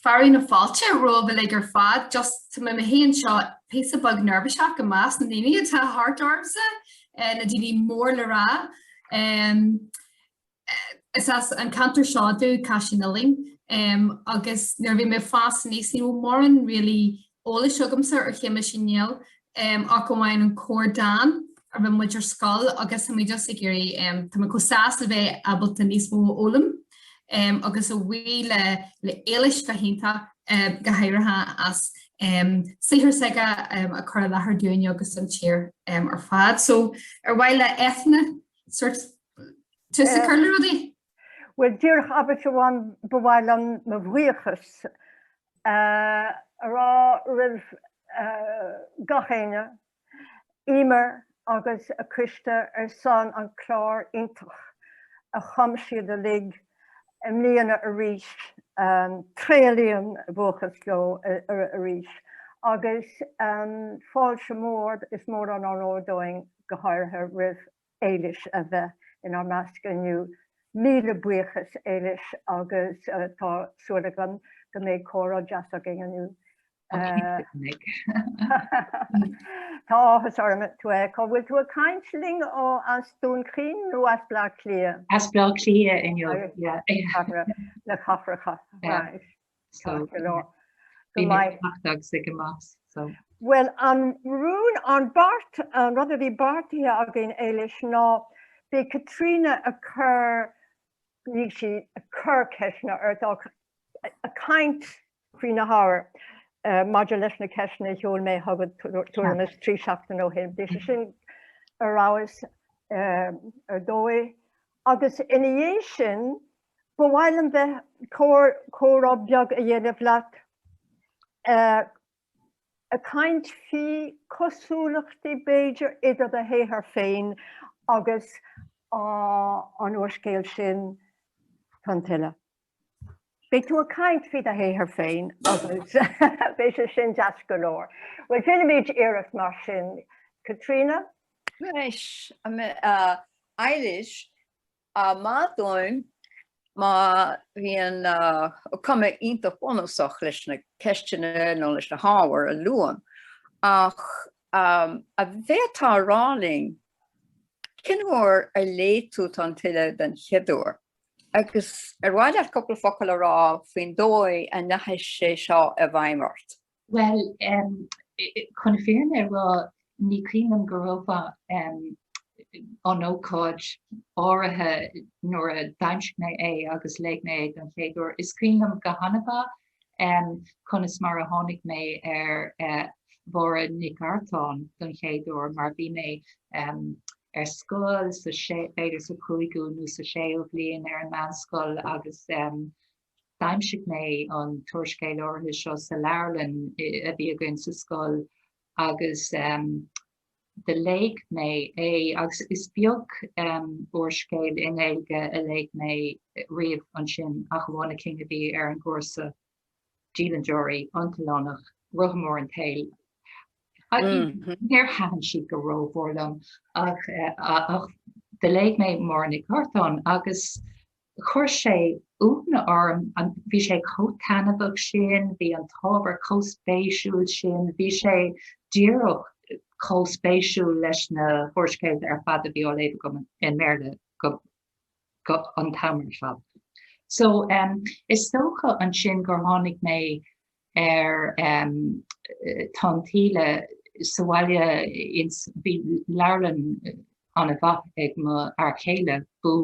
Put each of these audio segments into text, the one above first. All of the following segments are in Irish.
fearadh na fáilte romhaibh uilig ar fad. Just, tá mé mé fhéin anseo píosa beag neirbhíseach i measc na ndaoine atá thart ormsa, na daoine mór le rá. Is as an ceantar seo domh, Caisleán Uidhilín, agus nuair a bhí mé ag fás aníos ní raibh mórán really eolais agamsa ar Shéamus Uí Néill ach amháin an corrdhán a rinne muid ar scoil agus tá mé just ag iarraidh tá mé chomh sásta a bheith ábalta níos mó a fhoghlaim agus a bhuí le Éilís bheith iontach go háirithe as saothar s'aige a chur i láthair dúinne agus don tír ar fad so ar mhaith le Eithne sort tús a chur le rudaí? Bhuel, díreach abairt amháin ba mhaith liom mo bhuíochas a rá roimh gach éinne, Emer agus a coiste ar son an clár iontach a chum siad uilig i mbliana arís, tréaslaím mo bhuíochas leo arís agus fáilte mór is mór an onóir dúinn go háirithe roimh Éilís a bheith inár measc inniu. Míle buíochas Éilís agus tá súil agam go mbeidh comhrá deas againn inniu. Tá áthas orm tú a fheiceáil. Bhfuil tú ag caint linn ó as Dún Chaoin nó as Bleá Cliath? As Bleá Cliath inniu, yeah. Le cathracha. So, bhí mé amach agus ag amach, so. Bhuel, an rún, an beart, an rud a bhí beartaithe againn, Éilís, ná beidh Caitríona ag cur, níl sí ag cur ceisteanna ort, ach ag caint fríd na hábhair maidir leis na ceisteanna a sheol mé chugat tuairim is trí seachtaine ó shin. Beidh sé sin ar fheabhas, ar dóigh. Agus ina dhiaidh sin, Ba mhaith liom bheith comhrá beag a dhéanamh leat ag caint faoi cosúlachtaí b'fhéidir idir do shaothar féin agus an úrscéal sin Tonn Tuile. Beidh tú ag caint faoi do shaothar féin agus beidh sé sin deas go leor. Bhuel déanfaimid iarracht mar sin. Caitríona? Anois, Éilís, Á maith dúinn má bhíonn cuma iontach bunúsach leis na ceisteanna nó leis na hábhair a luaim, ach an bhféadfá a rá linn cén uair a léigh tú Tonn Tuile den chéad uair, agus ar mhaith leat cúpla focal a rá faoin dóigh a ndeachaigh sé seo i bhfeidhm ort? Bhuel, chun na fírinne a rá, ní cuimhin liom go ró-mhaith an ócáid áirithe nuair a d'aimsigh mé é agus léigh mé é don chéad uair. Is cuimhin liom go hana-mhaith conas mar a tháinig mé ar Mháire Nic Artáin don chéad uair, mar bhí mé ar scoil, b'fhéidir sa chúigiú nó sa séú bhliain ar an meánscoil agus D'aimsigh mé an t-úrscéal áirithe seo sa leabharlann a bhí againn sa scoil agus do léigh mé é agus is beag úrscéal i nGaeilge a léigh mé roimhe sin ach amháin na cinn a bhí ar an gcúrsa, Dialann Deoraí, An tOileánach, Rotha Mór an tSaoil. Mm-hmm. Níor thaitin siad go rómhór liom ach do léigh mé Máire Nic Artáin agus Do chuir sé iongnadh orm bhí sé chomh taithneamhach sin, bhí an t-ábhar chomh spéisiúil sin, bhí sé díreach chomh spéisiúil leis na húrscéalta ar fad a bhí á léamh agam i mBéarla an t-am ar fad. So, is dócha ansin gur tháinig mé ar Tonn Tuile sa bhaile bhí leabharlann ana mhaith ag mo fhear céile bhí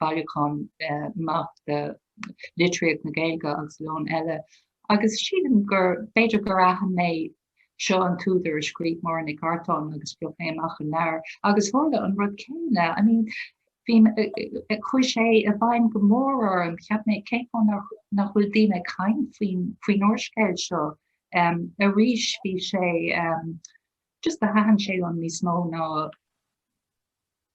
bailiúchán maith de litríocht na Gaeilge agus leabhair eile agus sílim b'fhéidir gur aithin mé Seo an t-údar a scríobh Máire Nic Artáin agus phioc mé amach an leabhar agus tharla an rud céanna. I mean, bhí mé, chuir sé i bhfeidhm go mór orm, cheap mé, cén fáth nach bhfuil daoine ag caint faoin, faoin úrscéal seo. Em, arís bhí sé, em, just thaitin sé liom níos mó ná.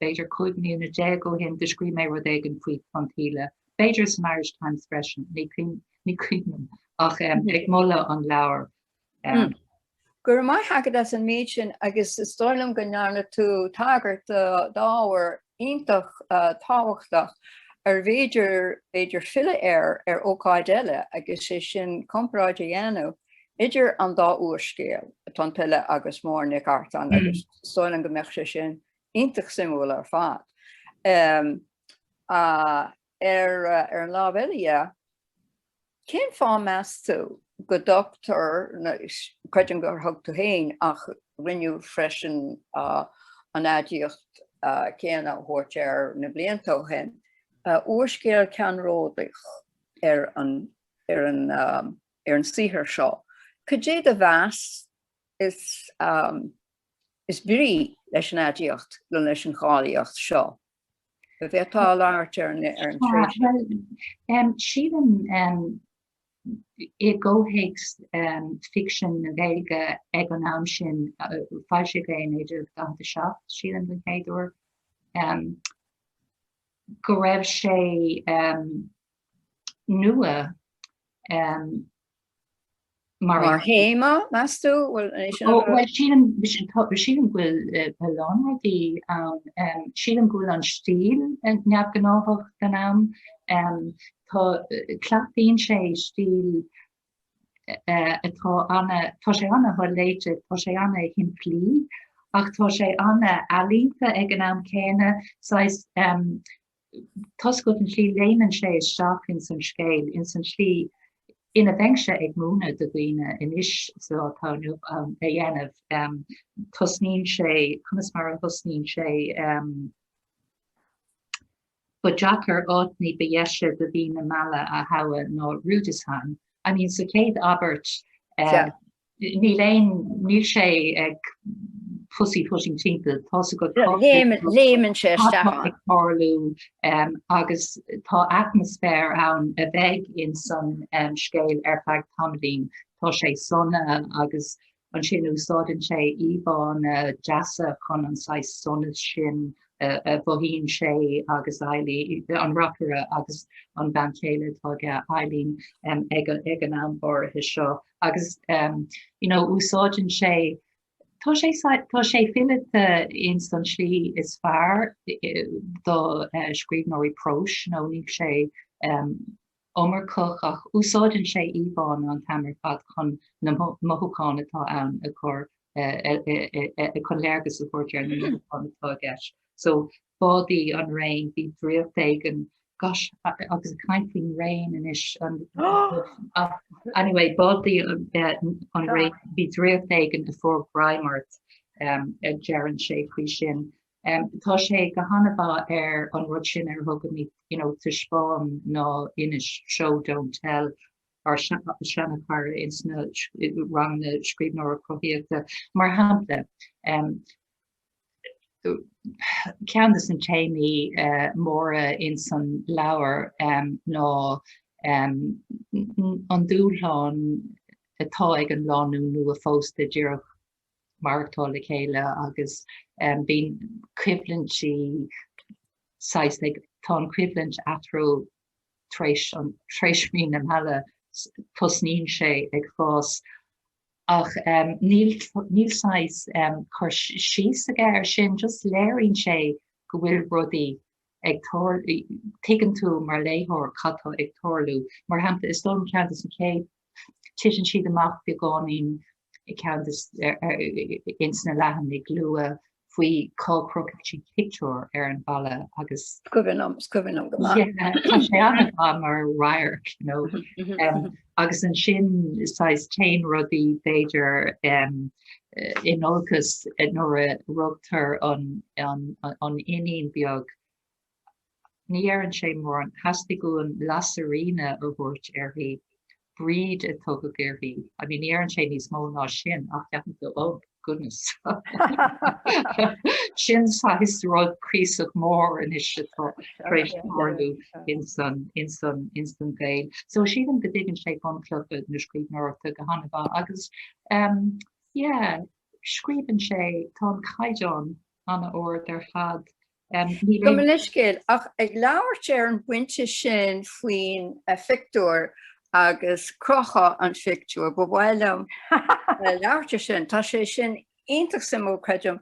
B'fhéidir cúig mbliana déag ó shin do scríobh mé rud éigin faoi Tonn Tuile, b'fhéidir san Irish Times freisin, ní cuimhin liom, ach ag moladh an leabhair. Go raibh maith agat as an méid sin agus is dóigh liom go ndearna tú tagairt d'ábhar iontach tábhachtach arbh fhéidir b'fhéidir filleadh air ar ócáid eile agus sé sin comparáid a dhéanamh idir an dá úrscéal, Tonn Tuile agus Máire Nic Artáin, agus is dóigh liom go mbeadh sé sin iontach suimiúil ar fad. Ar an lámh eile, cén fáth meas tú go dtugtar, creidim gur thug tú féin ach rinneadh freisin, an aidiacht chéanna a thabhairt air na blianta ó shin, úrscéal ceannródaíoch ar an saothar seo. Cad é do mheas? is brí leis an aidiacht nó leis an cháilíocht seo a bheith atá ag labhairt ar an tréimhse. Sílim i gcomhthéacs ficsean na Gaeilge ag an am sin foilsíodh é in 1947 sílim den chéad uair go raibh sé nua Mar théama, meas tú? Bhuel, anois sin an rud. Sílim, sílim go bhfuil a lán rudaí ann. Sílim go bhfuil an stíl neamhghnáthach den am. Tá, cleachtaíonn sé stíl atá ana, tá sé ana sholéite, tá sé ana shimplí, ach tá sé ana ealaíonta ag an am céanna, saghas toisc an tslí a léimeann sé isteach ins an scéal, ins an tslí ina bheinnse ag múineadh do dhaoine anois sa lá atá inniu ann a dhéanamh. Tosnaíonn sé, conas mar a thosnaíonn sé, ba deacair áit ní ba dheise do mhí na meala a thoghadh ná Rüdesheim. I mean, sa chéad abairt, Níl aon, níl sé ag pussy footing timpeall, tá sé go, léimeann sé isteach ann. Tá sé ag tarlú agus tá atmaisféar ann a bheidh in san scéal ar feadh tamaillín. Tá sé sona agus ansin úsáideann sé íomhánna deasa chun an saghas sonas sin a mhothaíonn sé agus Eileen, an reacaire agus an bean chéile atá aige, Eileen, ag an am áirithe seo. agus you know úsáideann sé tá sé tá sé fileata ins an slí is fearr do scríbhneoirí próis you know níl sé iomarcach ach úsáideann sé íomhánna an t-am ar fad chun na mothúcháin atá ann a chur chun léargas a thabhairt ar na mothúcháin atá i gceist. So ba í an Réin, bhí draíocht éigin, gosh, agus ag caint faoin Réin anois anyway ba í an Réin, bhí draíocht éigin a fuair greim ort, a deireann sé faoi sin. Tá sé go han-mhaith ar an rud sin ar a thugaimid, you know, taispeáin ná inis, show don't tell, ár seanchara insna ranganna scríbhneoireacht chruthaitheach, mar shampla, ceann de na téamaí móra ins an leabhar ná an dúshlán atá ag an lánúin nua phósta díreach maireachtáil le chéile agus bíonn coimhlintí saghas like, tá an choimhlint eatarthu tar éis mhí na meala tosnaíonn sé ag fás ach níl saghas cur síos aige ar sin just léiríonn sé go bhfuil rudaí ag tar, tuigeann tú mar léitheoir cad tá ag tarlú. Mar shampla is dóigh liom ceann des na chéad Titeann siad amach beagáinín ag ceann des, ins na leathanaigh luath faoi cá gcrochfaidh siad pictiúr ar an mballa agus. 's cuimhin liom, 's cuimhin liom go maith. Yeah, tá sé an-mhaith mar radharc, you know. Agus ansin, saghas téann rudaí b'fhéidir in olcas nuair a rugtar an iníon beag Ní dheireann sé mórán. Theastaigh uaim Lasairíona a thabhairt uirthi. Bríd a tugadh uirthi. I mean, ní dheireann sé níos mó ná sin, ach ceapaim go, oh, goodness. Sin saghas rud cuíosach mór anois atá tar éis tarlú ins an gaol. So sílim go dtuigeann sé bunchlocha na scríbhneoireachta go han-mhaith agus ehm, yeah, scríobhann sé, tá an caighdeán an-ard ar fad Gabh mo leithscéal, ach ag labhairt ar an bpointe sin faoin phictiúr agus crochadh an phictiúir, ba mhaith liom labhairt ar sin. Tá sé sin iontach suimiúil, creidim,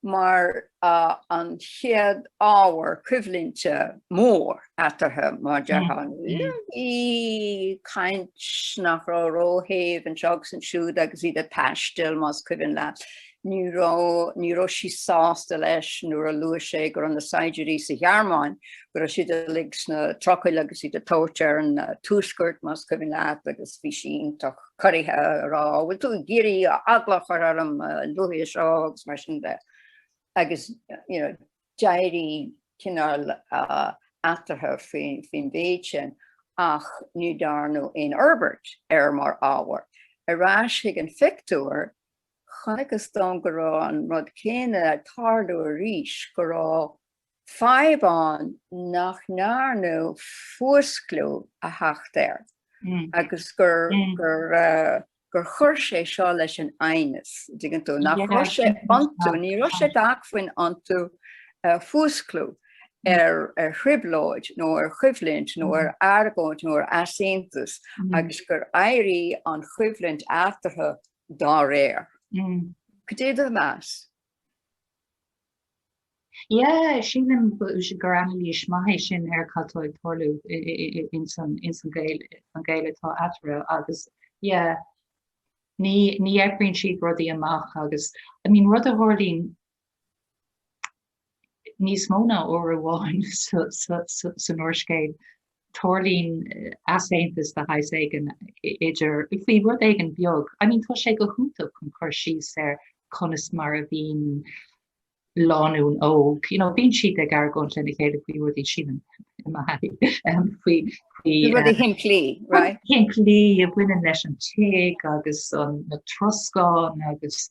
mar an chéad ábhar coimhlinte mór eatarthu, mar a déarfá. Bhí caint nach raibh róshéimh anseo agus ansiúd agus iad ag taisteal, más cuimhin leat. Ní raibh, ní raibh sí sásta leis nuair a luaigh sé go raibh na saighdiúirí sa Ghearmáin, go raibh siad uilig sna trucail agus iad ag tabhairt ar an Tuaisceart, más cuimhin leat, agus bhí sí iontach corraithe ag rá, bhfuil tú ag iarraidh eagla a chur orm a luaithe seo agus mar sin de. Agus you know, d'éirigh cineál eatarthu faoin mhéid sin ach ní dhearnadh aon fhorbairt air mar ábhar. Ar ais chuig an phictiúr, Chonacthas dom go raibh an rud céanna ag tarlú arís, go raibh fadhb ann nach ndearnadh fuasclú a theacht air agus gur chuir sé seo leis an aighneas, an dtuigeann tú, nach raibh sé iontu, ní raibh sé d'acmhainn iontu fuasclú ar thrioblóid nó ar choimhlint nó ar argóint nó ar easaontas agus gur éirigh an choimhlint eatarthu dá réir. Cad é do mheas? Yeah, sílim gur anailís maith é sin ar cad atá ag tarlú ins an gaol atá eatarthu agus yeah, ní eagraíonn siad rudaí amach agus, I mean, rud a tharlaíonn Níos mó ná uair amháin san úrscéal, tarlaíonn easaontas de shaghas éigin idir, faoi rud éigin beag, I mean, tá sé go hiontach chun cur síos ar conas mar a bhíonn lánúin óg, you know, bíonn siad ag argóint lena chéile faoi rudaí sílim, I mean, faoi, faoi, eh, rudaí shimplí, right, shimplí a bhaineann leis an tigh agus an, na troscáin agus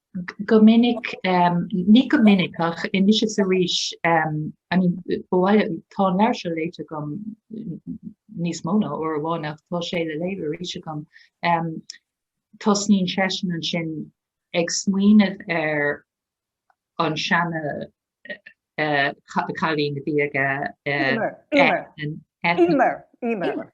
Go minic, ní go minic ach anois is arís, I mean, ba mhaith liom, tá an leabhar seo léite agam níos mó ná uair amháin ach tá sé le léamh arís agam, tosnaíonn seisean ansin ag smaoineamh ar an seana cailín a bhí aige, Emer,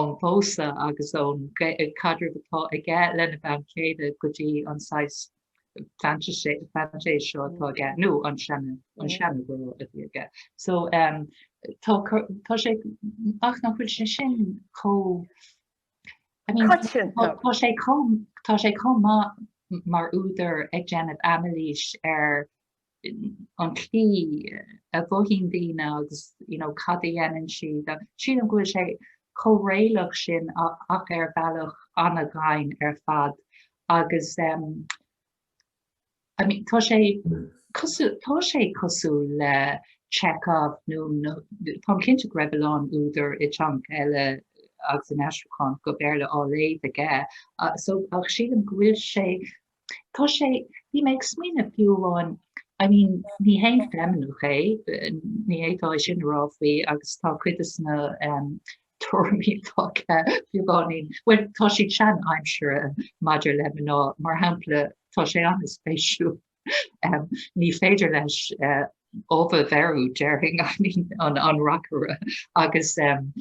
ón phósadh agus ón gcaidreamh atá aige lena bhean chéile go dtí an saghas fantaise seo atá aige, nó an seana-ghrá a bhí aige. So tá sé, ach nach bhfuil sé sin chomh, I mean, tá sé chomh, tá sé chomh maith mar údar ag déanamh anailís ar an tslí a mhothaíonn daoine agus you know cad a dhéanann siad agus sílim go bhfuil sé chomh réalach sin ach ar bhealach an-ghann ar fad agus em I mean tá sé cosúil tá sé cosúil le Chekhov nó nó táim cinnte go raibh a lán údar i dteangacha eile agus in aistriúchán go Béarla á léamh aige ach so ach sílim go bhfuil sé Tá sé, bhí mé ag smaoineamh fiú amháin, I mean, ní haon feimineach é, ní féidir é sin a rá faoi agus tá cuid des na um, tuairimí atá aige beagáinín, well, tá siad sean-aimsire maidir le mná, mar shampla, tá sé an-spéisiúil. Um, ní féidir leis uh, ubh a bheiriú, déarfainn, I mean, an, an reacaire agus um,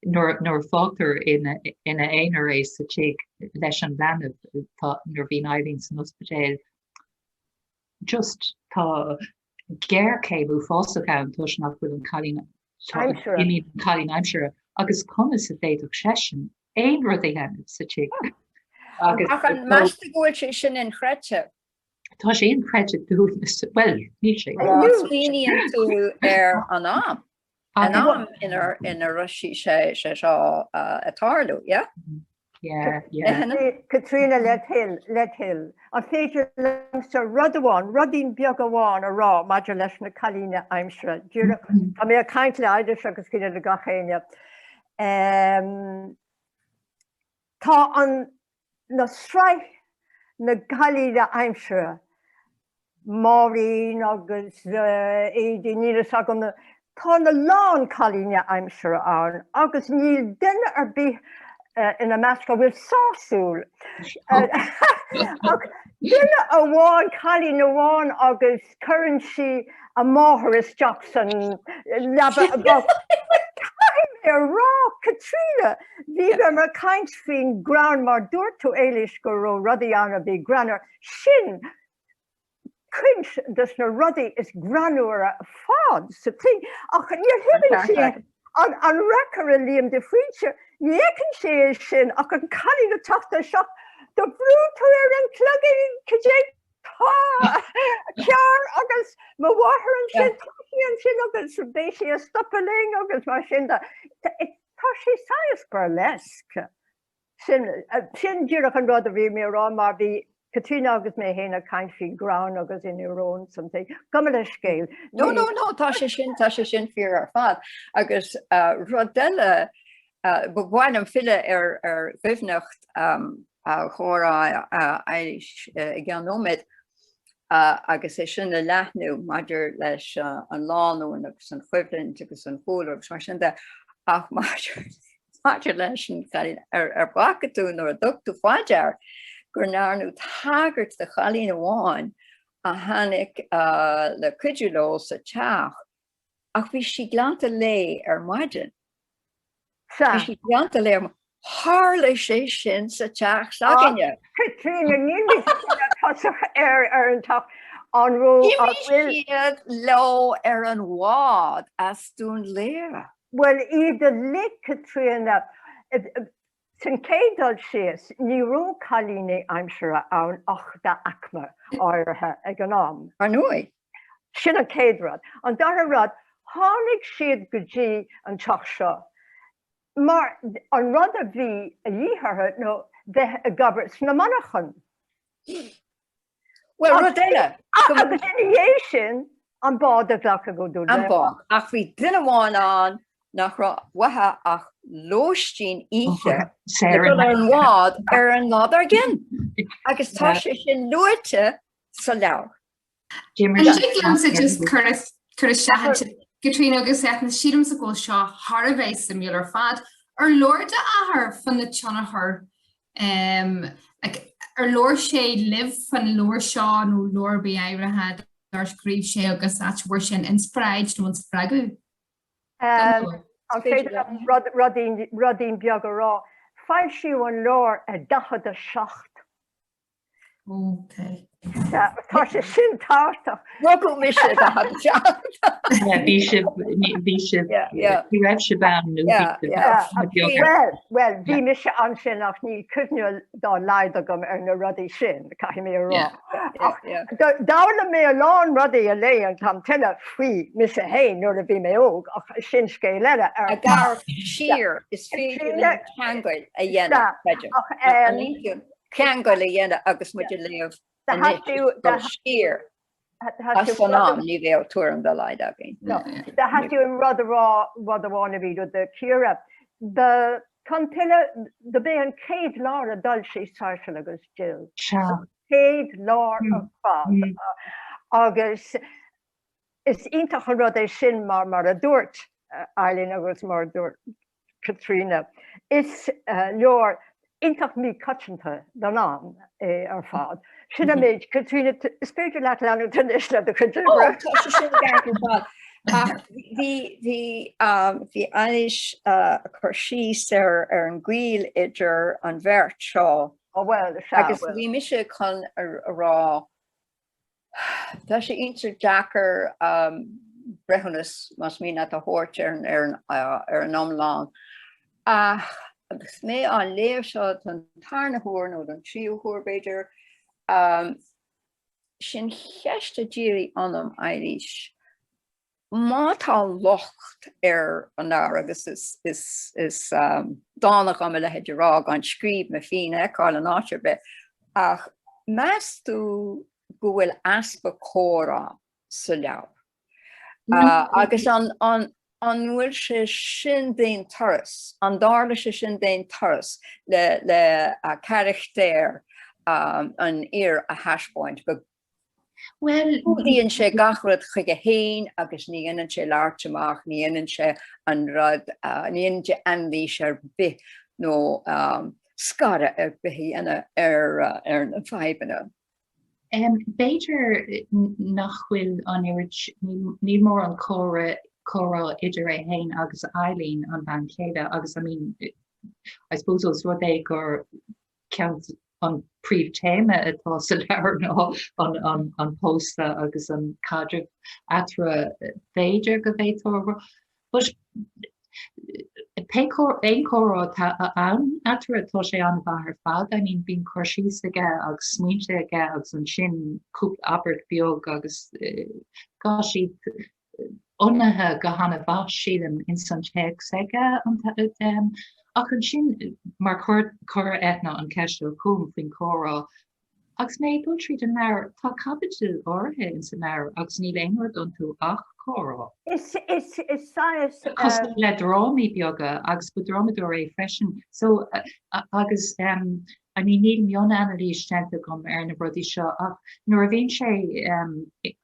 Nuair a fágtar ina aonar é sa tigh leis an leanbh, tá, nuair a bhíonn Eileen san ospidéal, just, tá géarchéim uafásach ann toisc nach bhfuil an cailín, I mean, an cailín aimsire, agus conas a d'fhéadfadh seisean aon rud a dhéanamh sa tigh? Ach an measann tú go bhfuil sé sin inchreidte? Tá sé inchreidte dúinn, bhuel, níl sé. Má smaoiníonn tú ar an am. An am ina raibh sé seo ag tarlú, yeah? Caitríona led thoil, An féidir liomsa rud amháin, rudaín beag amháin a rá maidir leis na cailíní aimsire? Díreach, tá mé ag caint le Éilís agus cinnte le gach éinne. Tá an an tsraith de na cailíní aimsire, Máirín agus Éidí, níl fhios agam, tá a lán cailíní aimsire ann agus níl duine ar bith ina measc atá sásúil, ach duine amháin, cailín amháin agus cuireann sí a máthair isteach san leaba a bhocht. Caithfidh mé a rá, Caitríona, bhí mé ag caint faoin greann mar dúirt tú Éilís go raibh rudaí ann a bhí greannmhar, sin cuid de na rudaí is greannmhaire ar fad sa tigh ach ní thuigeann sé an an reacaire Liam de Faoite, ní fheiceann sé é sin ach an cailín ag teacht isteach, ar bhrúigh tú ar an cloigín cad é tá cearr agus mo mháthair ansin, tá sí ansin agus beidh sí ag stopadh linn agus mar sin de. Tá sé saghas burlesque. Sin, sin díreach an rud a bhí mé ag rá mar bhí Caitríona agus mé fhéin ag caint faoi ghreann agus íoróin, something. Gabh mo leithscéal. No, no, no, tá sé sin, tá sé sin fíor ar fad. Agus rud eile, ba mhaith liom filleadh ar dhoimhneacht an chomhrá a Éilís i gceann nóiméad, agus é sin a leathnú maidir leis an lánúin agus an choimhlint agus an cúlra agus mar sin de, ach maidir leis an chailín, an bhfaca tú nó ar thug tú fá dear gur ndearnadh tagairt do chailín amháin a tháinig le cuidiú leo sa teach Ach bhí sí glanta léi ar maidin. Sea. Bhí sí glanta léi ar Tharla sé sin sa teach ah, s'againne. Caitríona ní tosach ar ar an tach an raibh siad leo ar an bhád as Dún Laoghaire. Well iad a lit Caitríona Sa chéad dul síos, ní raibh cailíní aimsire ann ach d'aicme áirithe ag an am. Ar ndóigh, sin an chéad rud. An dara rud, tháinig siad go dtí an teach seo mar an rud a bhí a dhíth orthu ná bheith ag obair sna monarchana. Bhuel, rud eile. Agus ina dhiaidh sin, an bád a bheadh uathu. An bád. Ach bhí duine amháin ann nach raibh uaithe ach lóistín oíche ag dul ar an bhád ar an lá dár gcionn. Agus tá sé sin luaite sa leabhar. An dtig liomsa just cur isteach, Caitríona agus Éilís, sílimse go bhfuil seo thar a bheith suimiúil ar fad. Ar labhair d'athair fán tionchar Um, like, ar labhair sé libh faoin leabhar seo nó leabhar ar bith áirithe dar scríobh sé agus cá bhfuair sé an inspioráid nó an spreagadh? Um, an féidir rudín beag a rá. Foilsíodh an leabhar i 47. Ok. Tá sé sin tábhachtach. Rugadh mise go hAbaí Teach. Bhí sibh, bhí sibh, ní raibh sibh ann nó bhí. Bhuel, bhí mise ansin ach níl cuimhne dá laghad agam ar na rudaí sin, caithfidh mé a rá. Ach d'fhoghlaim mé a lán rudaí ag léamh an t-am, tuilleadh faoi mise féin nuair a bhí mé óg, ach sin scéal eile. Ag dul siar, is féidir linn ceangail a dhéanamh, b'fhéidir. ceangail a dhéanamh agus muid ag léamh anois siar as san am, ní bheadh tuairim dá laghad againn. Tá, theastaigh uaim rud amháin a bhí le cur, do chur tuilleadh, do b'é an chéad leabhar a d'fhoilsigh Sáirséal agus Dill. An chéad leabhar ar fad. Agus is iontach an rud é sin mar mar a dúirt Éilís agus mar a dúirt Caitríona. Is leabhar iontach míchoitianta don am é ar fad. Sin an méid. Caitríona, is féidir leat leanúint anois le do chuid oibre. Bhí Éilís ag cur síos ar an ngaol idir an bheirt seo agus bhí mise chun a rá Tá sé iontach deacair breithiúnas más maith leat a thabhairt ar an iomlán ach agus mé á léamh seo don tarna huair nó don tríú huair b'fhéidir, sin ceist a d'éirigh ionam, Éilís. Má tá locht ar an leabhar, agus is dána dhom a leithéid a rá gan scríbhinn mé féin a fheiceáil in áit ar bith, ach meas tú go bhfuil easpa comhrá sa leabhar? Agus an bhfuil sé sin d'aon turas, an dtarlaíonn sé sin d'aon turas le carachtar an fhir a thaispeáint go Bhuel, coinníonn sé gach rud chuige féin agus ní dhéanann sé labhairt amach, ní dhéanann sé an rud, ní dhéanann sé anailís ar bith nó scagadh ar bith a dhéanamh ar na fadhbanna. B'fhéidir nach bhfuil an oiread, níl mórán comhrá idir é féin agus Eibhlín, an bhean chéile, agus I mean, I suppose ós rud é gur an príomhtéama atá sa leabhar ná an pósadh agus an caidreamh eatarthu. B'fhéidir go bhféadfá rá. But pé aon chomhrá atá ann eatarthu, tá sé an-mhaith ar fad. I mean, bíonn cur síos aige agus smaointe aige agus ansin cúpla abairt beag agus tá siad ionannaithe go han-mhaith, sílim, ins an téacs aige, ach ansin, mar chuir Eithne an cheist seo chugam faoin chomhrá agus mé ag dul tríd an leabhar, tá caibidil áirithe ins an leabhar agus níl aon rud iontu ach comhrá. Saghas cosúil le drámaí beaga, agus ba dhrámadóir é freisin, so agus I mean níl mionanailís déanta agam ar na rudaí seo ach nuair a bhíonn sé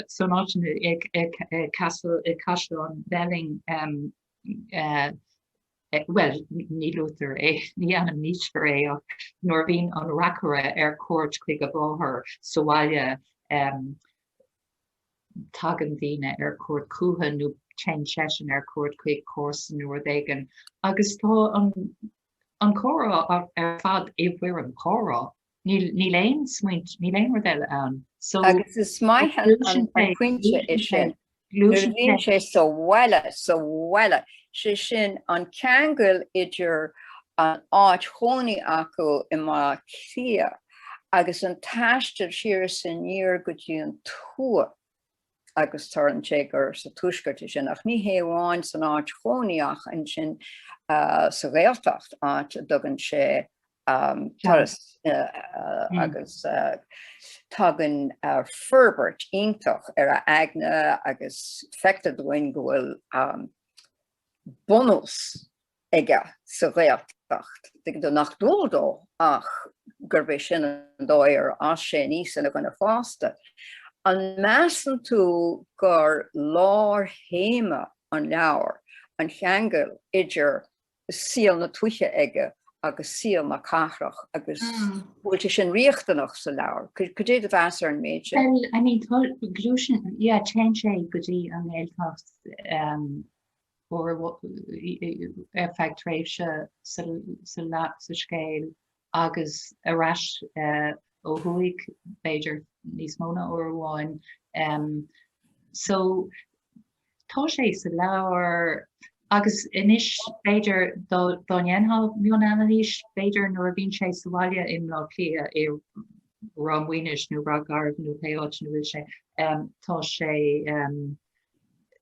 san áit i Caisleán Bhelling bhuel ní luaitear é ní ainmnítear é ach nuair a bhíonn an reacaire ar cuairt chuig a mháthair sa bhaile tagann daoine ar cuairt chuige nó téann seisean ar cuairt chuig comharsan nó rud éigin agus tá an comhrá ar fad i bhfoirm comhrá Níl aon smaointe, níl aon rud eile ann. Agus is maith an pointe é sin, nuair a bhíonn sé sa bhaile, sa bhaile, sé sin an ceangal idir an áit chónaí acu i mBaile Átha Cliath agus an taisteal siar is aniar go dtí an tuath. agus tharlaíonn sé gur sa Tuaisceart atá sin, ach ní hé amháin san áit chónaí ach ansin sa Ghaeltacht, áit a dtugann sé turas agus tagann forbairt iontach ar a aigne agus feictear dúinn go bhfuil bunús aige sa Ghaeltacht, dar ndóigh, nach dual dó ach gurb é sin an dóigh ar fhás sé aníos ina dhuine fásta. An measann tú gur lárthéama an leabhair an ceangal idir saol na tuaithe aige agus saol na cathrach agus an bhfuil sé sin riachtanach sa leabhar? Cad é do mheas ar an méid sin? Bhuel, I mean, gluaiseann, yeah, téann sé go dtí an nGaeltacht, ar feadh tréimhse sa scéal agus ar ais ó thuaidh, b'fhéidir níos mó ná uair amháin. So, tá sé sa leabhar agus anois b'fhéidir dá ndéanfá mionanailís, b'fhéidir nuair a bhíonn sé sa bhaile i mBleá Cliath, i Ráth Maonais nó Ráth Garbh nó pé áit ina bhfuil sé, tá sé,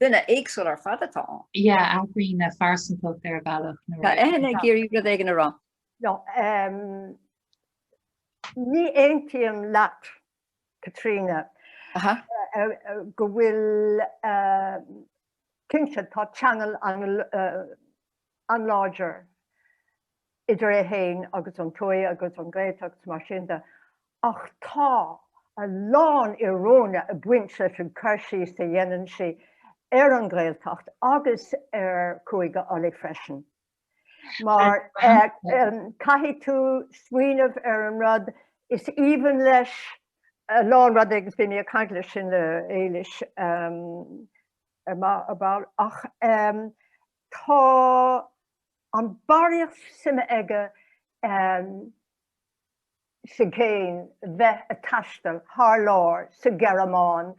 Duine éagsúil ar fad atá ann. yeah athraíonn a phearsantacht ar bhealach nuair a. Tá Eithne ag iarraidh rud éigin a rá. no ní aontaím leat Caitríona go bhfuil cinnte tá ceangal an. an láidir idir é féin agus an tuaith agus an Ghaeltacht is mar sin de, ach tá a lán íoróine ag baint leis an cur síos a dhéanann sí ar an Ghaeltacht agus ar Chúige Uladh freisin. Mar caithfidh tú smaoineamh ar an rud is aoibhinn leis a lán rud agus bhí mé ag caint faoi sin le Éilis ar ball ach Tá an barraíocht suime aige sa gcéin bheith a taisteal thar lear, sa Ghearmáin,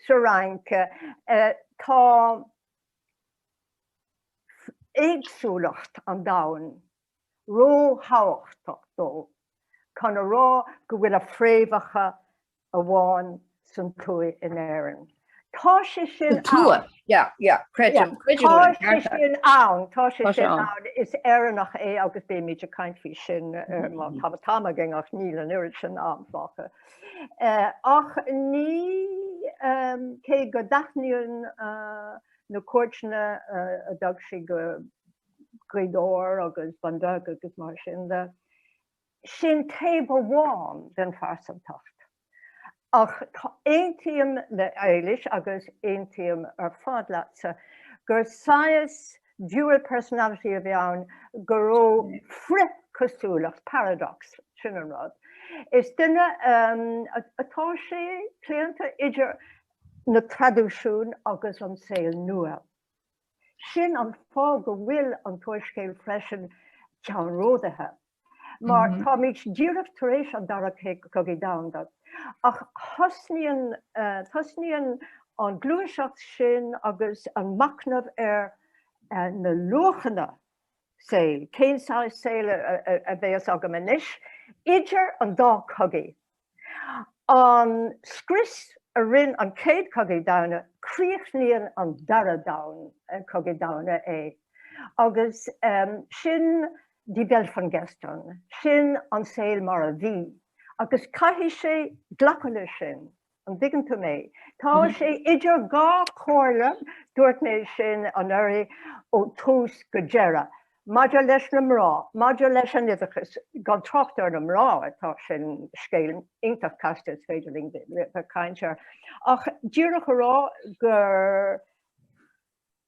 sa Fhrainc. Tá éagsúlacht an domhain ró-thábhachtach dó chun a rá go bhfuil a fréamhacha amháin san tuaith in Éirinn. Tá sé sin ann. Tá sé sin ann. Tá sé sin ann. Is Éireannach é agus beimid ag caint faoi sin má tá an t-am againn ach níl an oiread sin am, fágtha. Ach ní cé go dtaitníonn na cuairteanna a dtug sí go Gaoth Dobhair agus Bun Beag agus mar sin de, sin taobh amháin den phearsantacht, ach aontaím le Éilis agus aontaím ar fad leatsa gur saghas dual personality a bhí ann go raibh frith-chosúlacht, paradox, sin an rud. Is duine atá sé claonta idir na traidisiúin agus an saol nua. Sin an fáth go bhfuil an t-úrscéal freisin ceannródaíoch, mar táimid díreach tar éis an Dara Cogaidh Domhanda, ach tosnaíonn an gluaiseacht sin agus an machnamh ar na luachanna saoil, cén saghas saoil a bhéas againn anois, idir an dá cogaidh. An scrios a rinn an Chéad Cogaidh Domhanda, críochnaíonn an Dara Cogaidh Domhanda é. Agus sin Die Welt von gestern, sin an saol mar a bhí, agus caithfidh sé glacadh leis sin, an dtuigeann tú mé? Tá sé idir dhá chomhairle, dúirt mé sin anuraidh ó thús go deireadh. Maidir leis na mná, maidir leis an oideachas, gan trácht ar na mná atá, sin scéal iontach casta is féidir linn bheith caint air, ach díreach a rá gur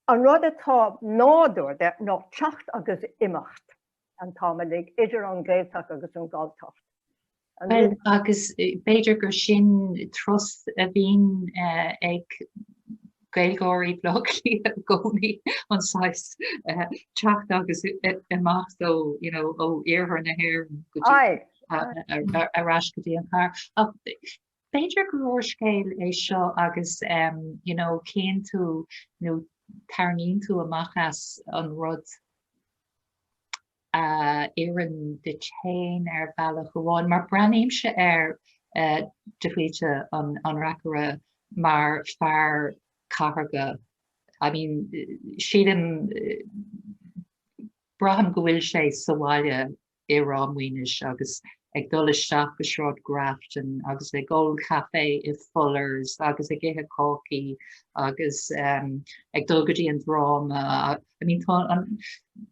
an rud atá nádúrtha ná teacht agus imeacht an t-am uilig idir an Gaeltacht agus an Galltacht. Bhuel, agus b'fhéidir gur sin trust a bhíonn ag Gaeilgeoirí Bhleá Cliath i gcónaí, an saghas teacht agus imeacht, ó, you know, ó iarthar na hÉireann go dtí. Aye. Ar ais go dtí an chathair. Ach b'fhéidir gur úrscéal é seo agus, you know, cíonn tú nó tarraingíonn tú amach as an rud. a oireann duit féin ar bhealach amháin, mar breathnaímse ar de Faoite, an reacaire, mar fear cathartha, I mean, sílim, braithim go bhfuil sé sa bhaile i Ráth Maonais agus ag dul isteach go Sráid Grafton agus ag ól caife i Fullers agus ag ithe cácaí agus ag dul go dtí an dráma, I mean, tá an,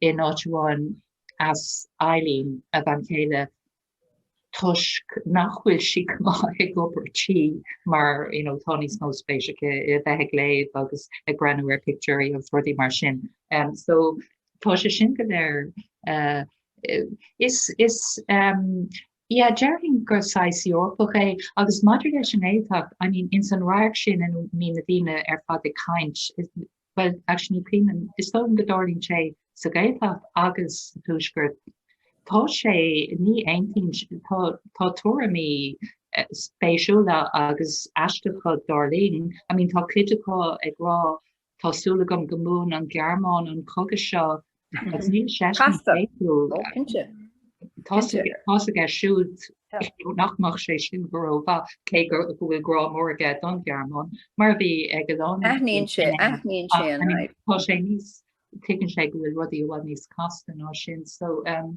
in áit amháin as Eileen a bhean chéile toisc nach bhfuil sí go maith ag obair tí mar you know tá níos mó spéis aici i bheith ag léamh agus ag breathnú ar pictiúirí agus rudaí mar sin um so tá sé sin go léir uh, is is um, yeah, deirfinn gur saghas Eorpach é agus maidir leis an éadach I mean ins an radharc sin a mbíonn na daoine ar fad ag caint Bhuel, actually, is cuimhin liom, is dóigh go dtarlaíonn sé sa Ghaeltacht agus sa Tuaisceart. Tá sé, ní aontaím, tá tuairimí spéisiúla agus aisteacha, dar linn. I mean, tá cuid acu ag rá, tá súil agam go mbuann an Ghearmáin an cogadh seo Tá's aige siúd nach mbeadh sé sin go rómhaith cé go bhfuil grá mór aige don Ghearmáin mar a bhí ag a lán Aithníonn sé, aithníonn sé an fhadhb. Tá sé níos, tuigeann sé go bhfuil rudaí i bhfad níos casta ná sin so umm.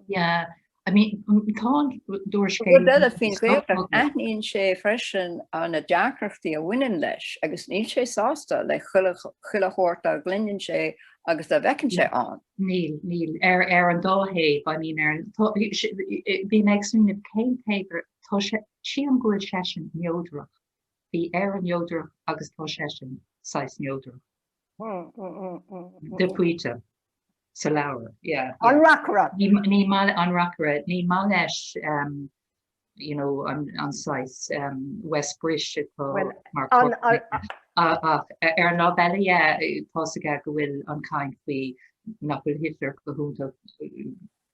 Yeah, I mean, tá an t-úrscéal. Rud eile faoin Ghaeltacht, aithníonn sé freisin na deacrachtaí a bhaineann leis agus níl sé sásta le chuile shórt dá gcluineann sé agus dá bhfeiceann sé ann. Níl, níl, ar an dá thaobh, I mean, ar an, bhí mé ag smaoineamh cén taobh ar, tá sé, sílim go bhfuil seisean neodrach, bhí Éire neodrach agus tá seisean saghas neodrach. Depóite sa leabhar, yeah. An reacaire. Ní maith, an reacaire, ní maith leis you know an saghas West Brish atá mar chorp. Ach ar an lámh eile, yeah, tá's aige go bhfuil an chaint faoi, nach bhfuil Hitler go hiontach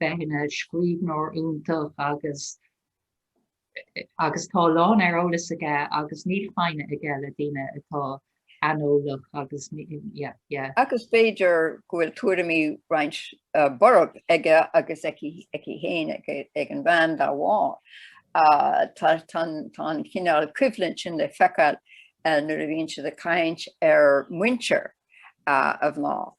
bheith ina scríbhneoir iontach agus agus tá a lán ar eolas aige agus níl foighne aige le daoine atá aineolach agus yeah yeah. Agus b'fhéidir go bhfuil tuairimí roinnt borb aige agus aici féin ag an bhean dá bharr. Tá an cineál coimhlint sin le feiceáil nuair a bhíonn siad ag caint ar mhuintir a mná.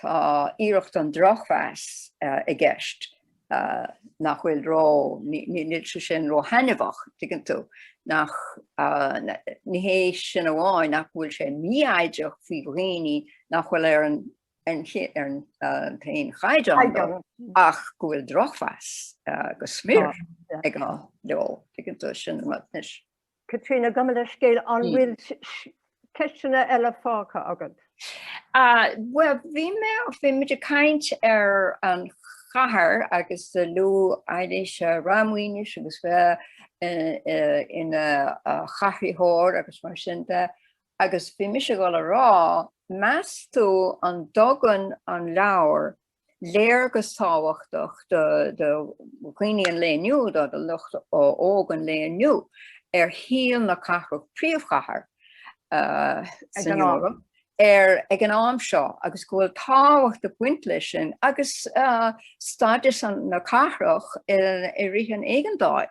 Tá iarracht den drochmheas i gceist, nach bhfuil ró, níl sé sin ró thaitneamhach, tuigeann tú, nach, ní hé sin amháin nach go bhfuil sé mífhoighdeach faoi dhaoine nach bhfuil ar an t-aon chaighdeán leo, ach go bhfuil drochmheas go smior aige leo, tuigeann tú, sin an rud. Caitríona, gabh mo leithscéal, an bhfuil ceisteanna eile fágtha agat? Bhuel, bhí mé, bhí muid ag caint ar an chathair agus luaigh Éilís Ráth Maonais agus bheith ina chathraitheoir agus mar sin de, agus bhí mise ag dul a rá, meas tú an dtugann an leabhar léargas tábhachtach do dhaoine an lae inniu, do lucht óg an lae inniu, ar shaol na cathrach, príomhchathair san Eoraip, ag an am seo agus go bhfuil tábhacht ag baint leis sin agus stádas na cathrach i rith an éigeandáil.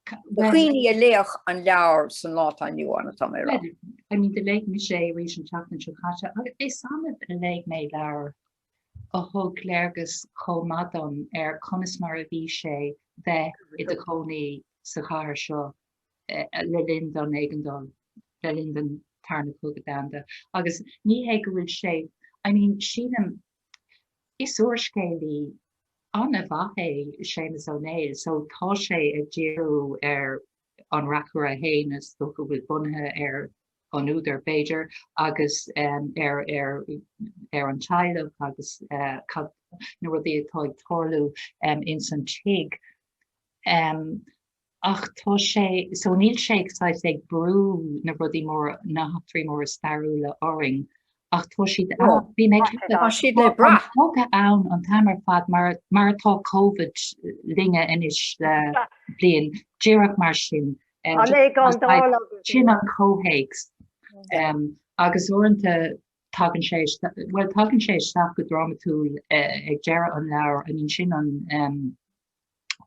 Do dhaoine a léifeadh an leabhar san lá atá inniu ann atá mé a rá. I mean do léigh mise é arís an tseachtain seo caite agus is annamh a léigh mé leabhar a thug léargas chomh maith dom ar conas mar a bhí sé bheith i do chónaí sa chathair seo le linn don éigeandáil, le linn don tarna cogadh domhanda agus ní hé go bhfuil sé, I mean sílim Is úrscéalaí an-mhaith é Séamus Ó Néill so tá sé ag díriú ar an reacaire féin is dócha go bhfuil bunaithe ar an údar b'fhéidir agus ar ar ar an teaghlach agus na rudaí atá ag tarlú ins an tigh. Ach tá sé, so níl sé ag saghas ag brú na rudaí móra, na heachtraí móra stairiúla orainn, ach tá siad ann. Bhí mé ag ceapadh, tá siad le brath. Tá an cogadh ann an t-am ar fad mar, mar atá Covid linne anois le bliain, díreach mar sin. agus. Sin an comhthéacs. Agus uaireanta tagann sé, bhuel tagann sé isteach go drámatúil ag deireadh an leabhair, I mean sin an,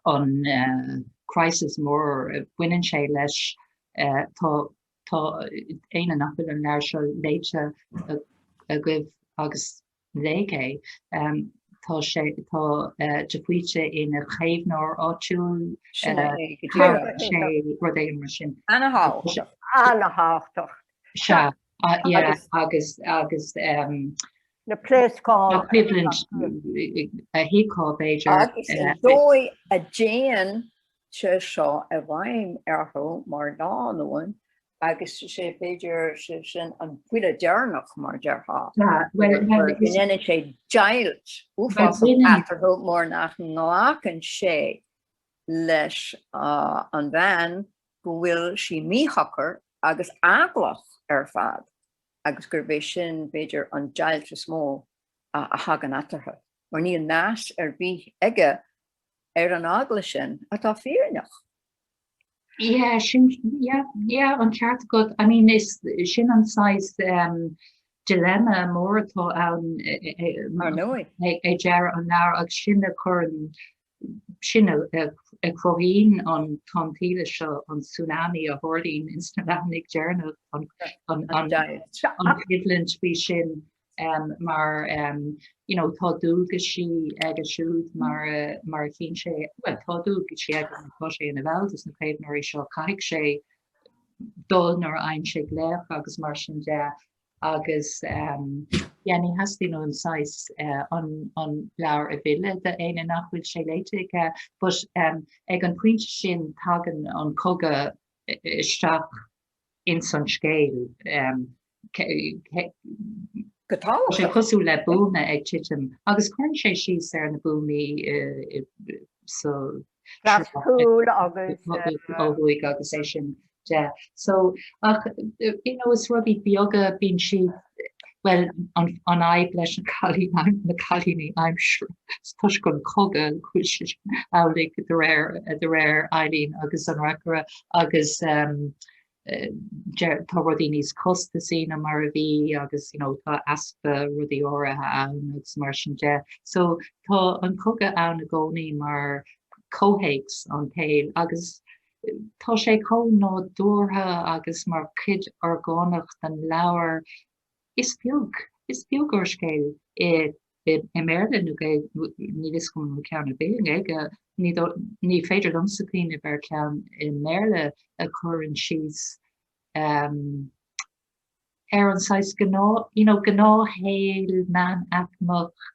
an crisis mór baineann sé leis, tá éinne nach bhfuil an leabhar seo léite agaibh agus léigí é, tá sé, tá de Faoite ina chaomhnóir áitiúil, nó rud éigin mar sin. Ana thábhachtach. Ana thábhachtach. Sea, agus na pléascáin a thiocfadh b'fhéidir. Agus an dóigh a dtéann sé seo i bhfeidhm orthu mar lánúin agus sé b'fhéidir sibh sin an buille deireanach mar déarfá, go ndéanann sé deighilt uafásach eatarthu mar nach nglacann sé leis an bhean go bhfuil sí míshocair agus eaglach ar fad. agus gurb é sin, b'fhéidir, an deighilt is mó a thagann eatarthu, mar níl meas ar bith aige ar an eagla sin atá fírinneach. Yeah, sin, yeah, yeah, an ceart agat. I mean, is, sin an saghas um, dilemma mór atá ann e, e, e, mar nó ag deireadh an leabhair agus sin a chuireann sin a chruthaíonn an tonn tuile seo, an tsunami a tharlaíonn ins na leathanaigh dheireanacha, an choimhlint faoi sin mar tá dualgaisí aige siúd mar a chíonn sé, bhuel tá dualgaisí aige mar tá sé ina bhall des na caomhnóirí seo, caithfidh sé dul nuair a fhaigheann sé glaoch agus mar sin de. agus ní theastaíonn uaim saghas an leabhar a mhilleadh d'éinne nach bhfuil sé léite aige, but ag an pointe sin tagann an cogadh isteach ins an scéal. Tá sé cosúil le buama ag titim agus cuireann sé síos ar na buamaí sa. Glas cúil agus. Ó thuaidh agus é sin de so ach you know is rudaí beaga bíonn siad well an fhadhb leis na cailíní aim na cailíní aimsir toisc an cogadh is amhlaidh de réir de réir Eileen agus an reacaire agus um, eh, deir- tá rudaí níos costasaí na mar a bhí agus you know, tá easpa rudaí áirithe ann agus mar sin de so tá an cogadh ann i gcónaí mar comhthéacs don tsaol agus Tá sé chomh nádúrtha agus mar chuid orgánach den leabhar. Is beag, is beag úrscéal i i mBéarla nó Gaeilge, níl fhios agam an bhfuil ceann ar bith i nGaeilge, ní dóigh, ní féidir liomsa cuimhneamh ar cheann i mBéarla a chuireann síos ar an saghas gnáth, you know, gnáthshaol meánaicmeach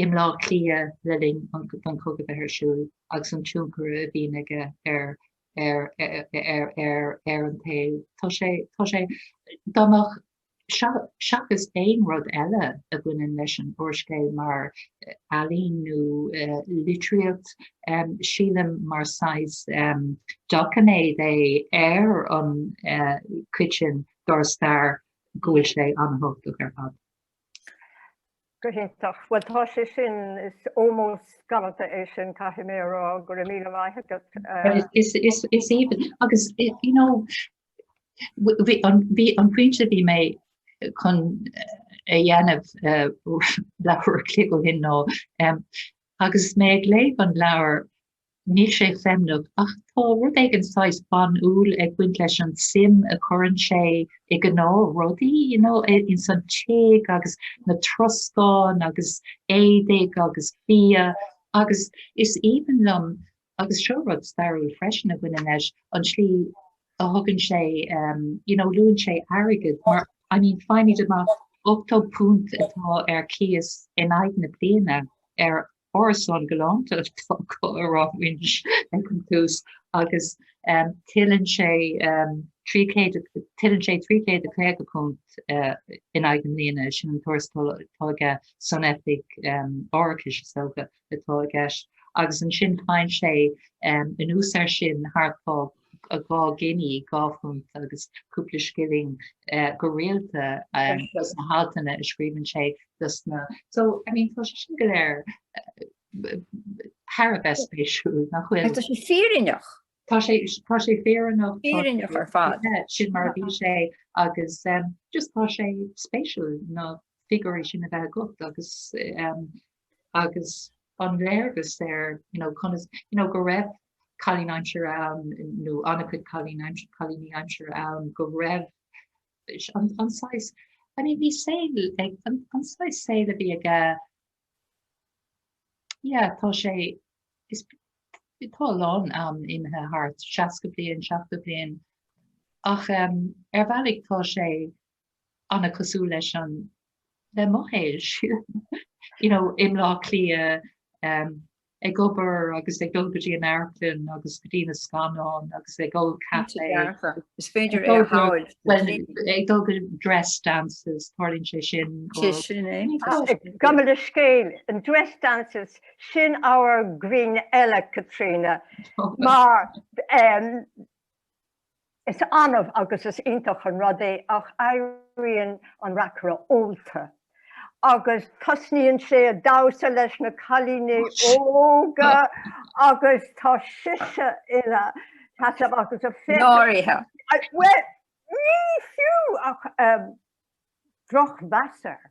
i mBleá Cliath le linn don chogadh bheith ar siúl agus an tionchar a bhí aige ar ar an tsaol. Tá sé tá sé tábhachtach seachas aon rud eile a bhaineann leis an úrscéal mar ealaín nó litríocht, sílim mar saghas doiciméad é ar an chuid sin dár stair go bhfuil sé an-thábhachtach ar fad. Go hiontach. Bhuel tá sé sin, is almost galánta é sin, caithfidh mé a rá. Go raibh míle maith agat. Is aoibhinn. Agus you know bhí an pointe bhí mé chun a dhéanamh leathuair an chloig ó shin ná agus mé ag léamh an leabhar Níl sé feimneach, ach tá rud éigin saghas banúil ag baint leis an suim a chuireann sé i gnáth rudaí, you know, ins an tigh agus na troscáin agus éadaigh agus bia agus is aoibhinn liom, agus seo rud stairiúil freisin a bhaineann leis, an slí a thugann sé ehm, you know, luann sé airgead mar, I mean, faighimid amach ochtó punt atá ar chíos in aghaidh na bliana ar Árasán galánta atá acu i Ráth Maonais ag an tús agus tuilleann sé £350 in aghaidh na bliana, sin an tuarastal atá aige san oifig árachais is dócha atá i gceist, agus ansin faigheann sé anuas air sin thart fá 2 gini, dhá phunt agus cúpla scilling, go rialta do na haltanna a scríobhann sé do sna. So, I mean, tá sé sin go léir thar a bheith spéisiúil, nach bhfuil? Agus tá sé fírinneach. Tá sé, tá sé fírinneach. Fírinneach ar fad. Sin mar a bhí sé agus just tá sé spéisiúil na figiúirí sin a bheith agat agus agus an léargas ar you know conas you know go raibh cailín aimsire ann nó an-chuid cailín aimsire cailíní aimsire ann go raibh an, an saghas I mean bhí saol ag an, an saghas saol a bhí aige yeah tá sé is tá a lán am imithe thart 60 bliain 70 bliain ach um, ar bhealaigh tá sé ana cosúil leis an le mo shaolsa you know i mBlá Cliath ehm ag obair agus ag dul go dtí an Amharclann agus go dtí na scannáin agus ag ól caife is féidir é a fháil well ag dul go dress dances tarlaíonn sé sin sé sin é gabh mo leithscéal an dress dances sin ábhar grinn eile Caitríona mar ehm Is annamh agus is iontach an rud é ach éiríonn an reacaire ólta agus tosnaíonn sé ag damhsa leis na cailíní óga agus tá sise ina seasamh agus a féachaint. Náirithe. Bhuel, ní fiú ach drochmheas air.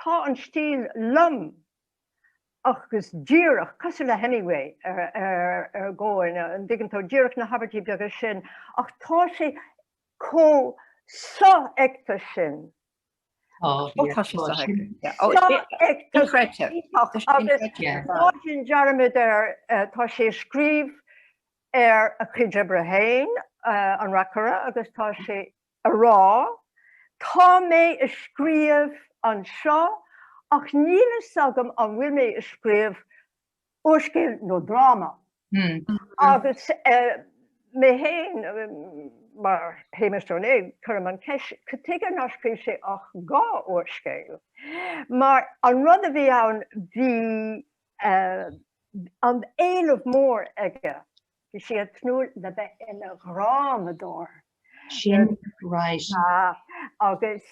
Tá an stíl lom agus díreach, cosúil le Hemingway ar dhóigh, an dtuigeann tú, díreach na habairtí beaga sin, ach tá sé chomh sofheicthe sin. Tá, tá sé sofheicthe. Sofheicthe. Agus sin dearmad air, tá sé ag scríobh ar a chuid oibre féin, an reacaire, agus tá sé a rá, Tá mé a scríobh anseo ach níl fhios agam an bhfuil mé a scríobh úrscéal nó dráma. Agus mé féin, mar Shéamus Ó Néill, cuirim an cheist, cad tuige nár scríobh sé ach dhá úrscéal? Mar an rud a bhí ann, bhí an éileamh mór aige. Bhí sé ag tnúth le bheith ina dhrámadóir. Sin right. Agus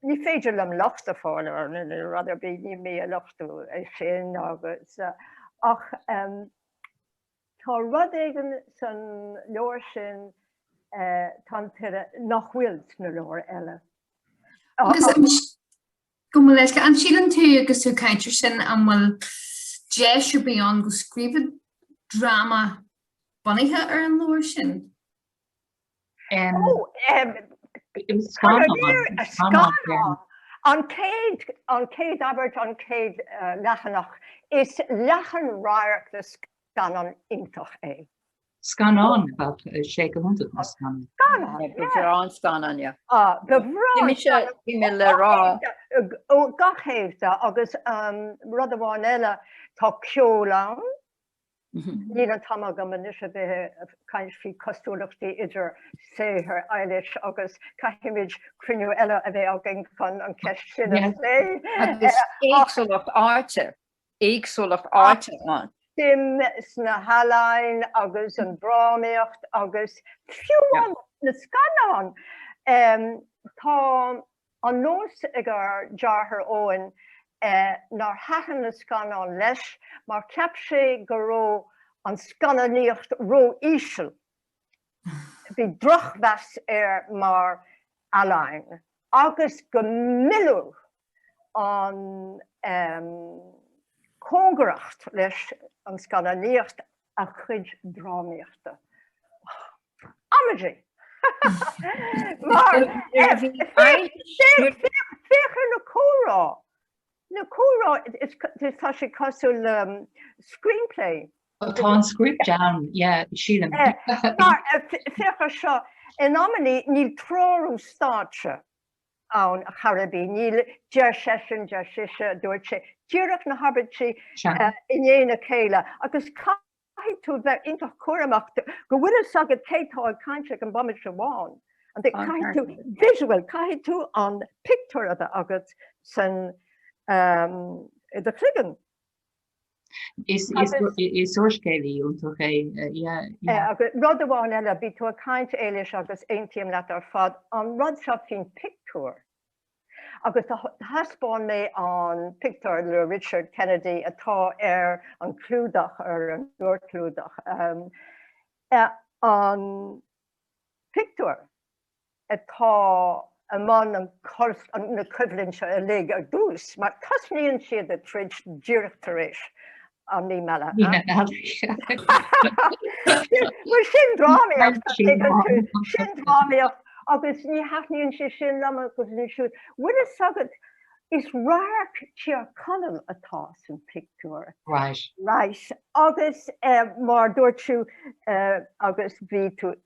ní féidir liom locht a fháil air nó rud ar bith, níl mé a lochtú é sin agus, ach tá rud éigin san leabhar sin, Tonn Tuile, nach bhfuil sna leabhair eile. Gabh mo leithscéal. An síleann tú agus tú ag caint air sin an bhfuil deis ar bith ann go scríobhfá dráma bunaithe ar an leabhar sin? Scannán. An chéad, an chéad abairt, an chéad leathanach, is leathan radharc de scannán iontach é. Scannán, bheadh sé go hiontach na scannáin. Scannán, yeah. Go bhreá an scannán, yeah. Ah, go bhreá! Bhí mise, bhí mé le rá. Ó, go cinnte, agus rud amháin eile, tá ceol ann, níl an t-am agam anois a bheith ag caint faoi cosúlachtaí idir saothar Éilis agus caithfimid cruinniú eile a bheith againn chun an cheist sin a phlé. Agus éagsúlacht áite. éagsúlacht áite ann. suim sna healaín agus an drámaíocht agus fiú amháin na scannáin. Tá an nós ag ár deartháir Eoin nár thaitin na scannáin leis mar cheap sé go raibh an scannánaíocht ró-íseal. Bhí drochmheas air mar ealaín agus go millfeadh an cóngaracht leis an scannánaíocht a chuid drámaíochta. Amaidí! Mar féach ar na comhrá, na comhrá, tá sé cosúil le screenplay. Tá an script ann, yeah, sílim. Mar féach ar seo, in amannaí níl treorú stáitse. ann, ar chor ar bith, níl, deir seisean, deir sise, dúirt sé, díreach na habairtí i ndiaidh a chéile, agus caithfidh tú bheith iontach cúramach go bhfuil fhios agat cé atá ag caint ag an bomaite seo amháin, an, Caithfidh tú visual, caithfidh tú an pictiúr a bheith agat san, i do chloigeann. Is úrscéalaí iontach é, yeah. Rud amháin eile, bhí tú ag caint Éilis agus aontaím leat ar fad, an rud seo faoin pictiúr, agus thaispeáin mé an pictiúr le Richard Kennedy atá ar an clúdach, ar an fhorchlúdach, an pictiúr atá i mbun na coimhlinte seo uilig ar dtús, mar tosnaíonn siad a troid díreach tar éis an mhí meala. Mí na Meala. Bhuel, sin drámaíocht, ag an tús. Sin drámaíocht, agus ní thaitníonn sé sin léi siúd. Bhfuil fhios agat, is radharc Tír Chonaill atá san pictiúr. Right. Right. Agus mar dúirt tú, agus bhí tú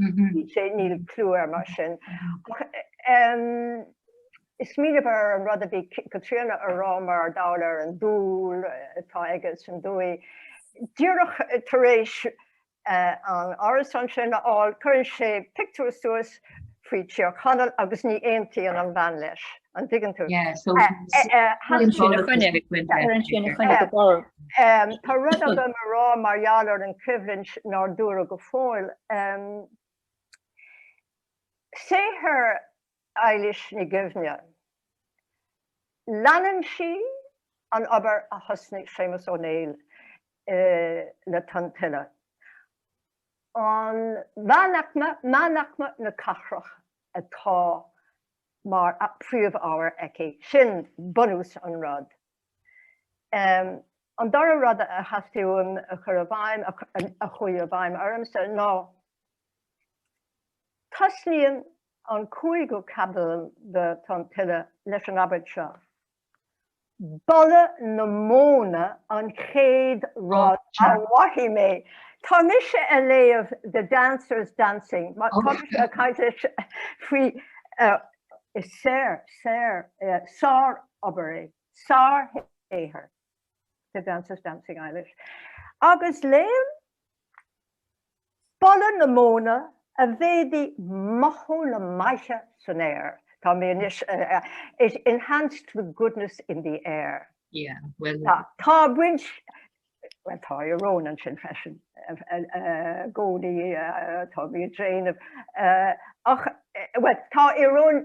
Bhí sé, níl clú air mar sin. Ach smaoinigh ar an rud a bhí Caitríona a rá mar gheall ar an dúil atá aige san dúiche. Díreach tar éis an árasán sin a fháil, cuireann sé pictiúr suas faoi Tír Chonaill agus ní aontaíonn an bhean leis. an dtuigeann tú? Tá rud agam a rá mar gheall ar an choimhlint nár dúradh go fóill. Saothar Eilís Ní Dhuibhne, leanann sí an obair a thosnaigh Séamus Ó Néill le Tonn Tuile, an meánaicme, meánaicme na cathrach atá mar phríomhábhar aici. Sin bunús an rud. An dara rud a theastaigh uaim a chur i bhfeidhm, a chuaigh i bhfeidhm ormsa, ná Tosnaíonn an cúigiú caibidil de Tonn Tuile leis an abairt seo. Boladh na móna an chéad rud a mhoithigh mé. Tá mise a léamh The Dancers Dancing, tá mise a caint faoi sár obair é, sár shaothar The Dancers Dancing Éilís, agus léim Boladh na móna a mhéadaigh mothú na maithe san aer. Tá mé, anois, It enhanced the goodness in the air. Yeah, bhuel. Tá, tá baint, bhuel, tá ioróin ansin freisin i gcónaí, tá mé ag déanamh, ach, bhuel, tá ioróin.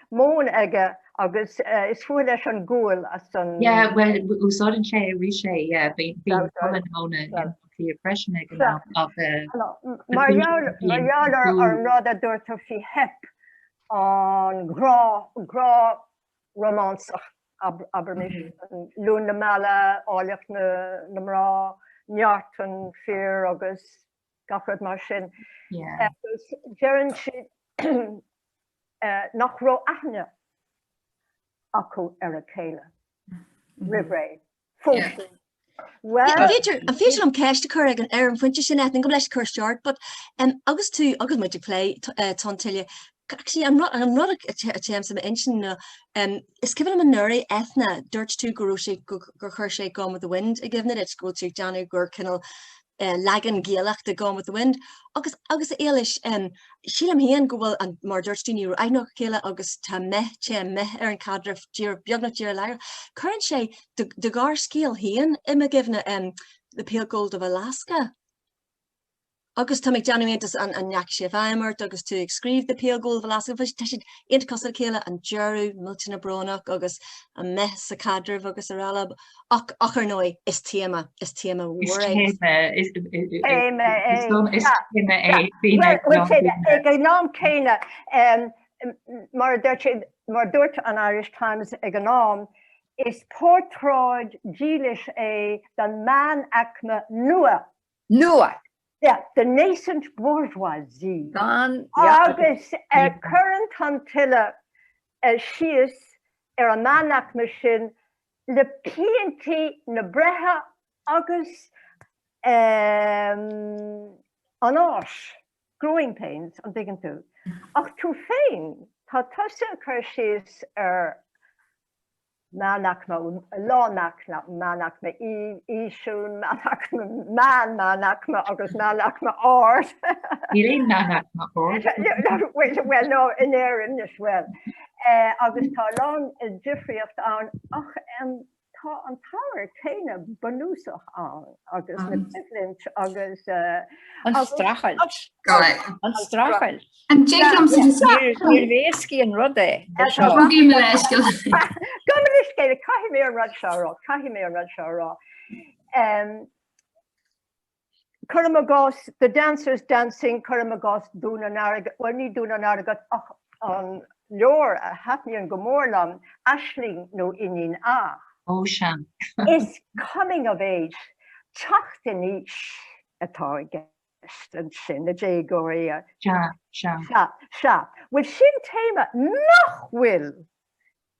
móin aige agus is fuath leis an gual as an. Yeah well úsáideann sé arís é yeah bíonn bíonn fuath na móna in Áth Cliath freisin ag an am ach eh. Mar gheall mar gheall ar ar an rud a dúirt tú faoi theip an ghrá grá rómánsach ab abraimis Luan na Meala, Áilleacht na na mná, Neart an Fhir agus gach rud mar sin. Agus deireann siad nach raibh aithne acu ar a chéile roimh ré. Phós siad. Bhuel. B'fhéidir, an féidir liom ceist a chur ar an phointe sin, Eithne, gabh mo leithscéal cur isteach ort, but agus tú agus muid ag plé Tonn Tuile, actually an rud an rud atá i m'intinn nó is cuimhin liom anuraidh, Eithne, dúirt tú go raibh sé gur chuir sé Gone with the Wind i gcuimhne duit go bhfuil tú ag déanamh gur cineál leagan Gaelach de Gone with the Wind agus agus a Éilís, em, sílim féin go bhfuil an, mar a dúirt tú, ní raibh aithne acu ar a chéile agus tá meath, téann meath ar an chaidreamh díreach, beagnach díreach láithreach. Cuireann sé do do ghearrscéal féin i mo gcuimhne, em, The Pale Gold of Alaska agus tá mé ag déanamh iontais an an ndeachaigh sé i bhfeidhm ort agus tú ag scríobh The Pale Gold of Alaska bhuel tá siad iontach cosúil le chéile, an deireadh millteanach brónach agus an meath sa chaidreamh agus araile. Ach, ach ar ndóigh, is téama, is téama mhór é. Is téama, is, is téama é. Ag an am céanna, mar a dúirt, mar a dúirt an Irish Times ag an am, is portráid dílis é den meánaicme nua. Nua! Yeah, the nascent bourgeoisie. Gan, yeah. Agus cuireann Tonn Tuile síos ar an meánaicme sin le piantaí na breithe agus an fháis, growing pains, an dtuigeann tú? Ach tú féin, tá tusa ag cur síos ar meánaicme, lánaicme, meánaicme íseal, meánaicme meán, meánaicme agus meánaicme ard. Níl aon meánaicme ard. Bhuel, no, in Éirinn, yes, bhuel. agus tá a lán difríocht ann ach tá an t-ábhar céanna bunúsach ann agus na coimhlint agus. an streachailt. an streachailt. an jig liom sa deireadh. Níorbh éasca an rud é. Gabh mo leithscéal. Gabh mo leithscéal, caithfidh mé an rud seo a rá, caithfidh mé an rud seo a rá. cuirim i gcás, The Dancers Dancing, cuirim i gcás Dún an Airgid, bhuel, ní Dún an Airgid ach an leabhar a thaitníonn go mór liom, Aisling nó Iníon A. Ó, sea. Is coming of age, teacht in aois, atá i gceist ansin, na déagóirí. Sea, sea. Sea, sea. Bhuel, sin téama nach bhfuil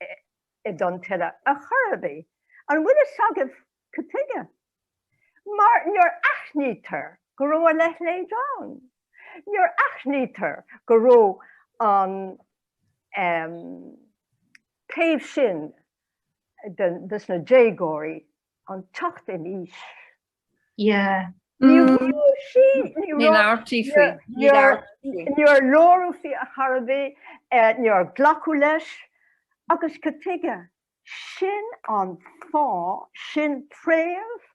i dTonn Tuile ar chor ar bith. An bhfuil a fhios agaibh, Cad tuige? Mar níor aithnítear go raibh a leithéid ann. Níor aithnítear go raibh an taobh sin des na déagóirí, an teacht in aois, Ní labhraítí faoi. Níor labhradh faoi ar chor ar bith. Níor glacadh leis. Agus cad tuige? Sin an fáth, sin préamh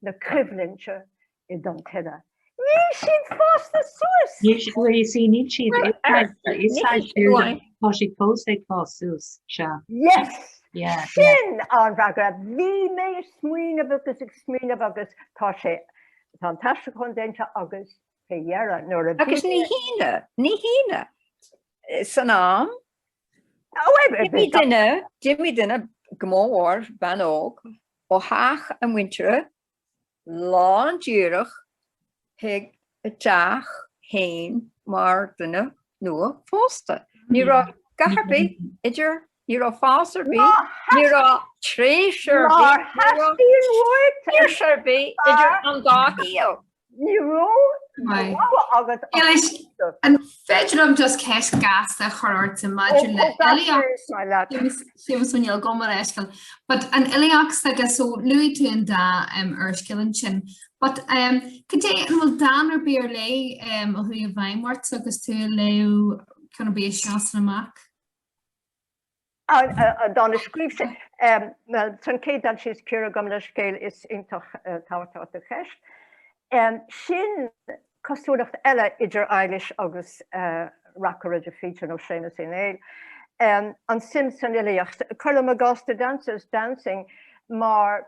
na coimhlinte i dTonn Tuile. Níl siad fásta suas! Níl siad, bhuel, you see, níl siad, Well, ar a shon, is níl saghas siad siúil uaidh. gur tá siad fós ag fás suas, sea. Yes! Yeah, yeah. Sin an fhreagra. Bhí mé ag smaoineamh agus ag smaoineamh agus tá sé, tá an t-aistear chun déanta agus, fé dheire, nuair a bhí Agus mé, ní hionadh, ní hionadh, san am D'imigh duine, d'imigh duine, go mór-mhór bean óg, ó theach a muintire, lán díreach chuig a teach fhéin mar dhuine nua phósta. Ní raibh gath ar bith idir, ní raibh spás ar bith, ní raibh tréimhse ar bith, ní raibh saoirse ar bith idir an dá shaol. Ní raibh rogha agat ach cuidiú. An féidir liom just ceist ghasta a chur ortsa maidir le filíocht? Séamus Ó Néill, gabh mo leithscéal. But an fhilíocht agus so luaigh tú an dá úrscéal ansin. But cad é, an bhfuil dán ar bith ar leith a chuaigh i bhfeidhm ortsa agus tú ag léamh a sheasann amach? an dán a scríobh sé. San céad dán sin gabh mo leithscéal is iontach tábhachtach do cheist. Sin cosúlacht eile idir Éilís agus reacaire de Faoite nó Séamus Uí Néill, an suim san fhilíocht. Cuirim i gcás The Dancers Dancing mar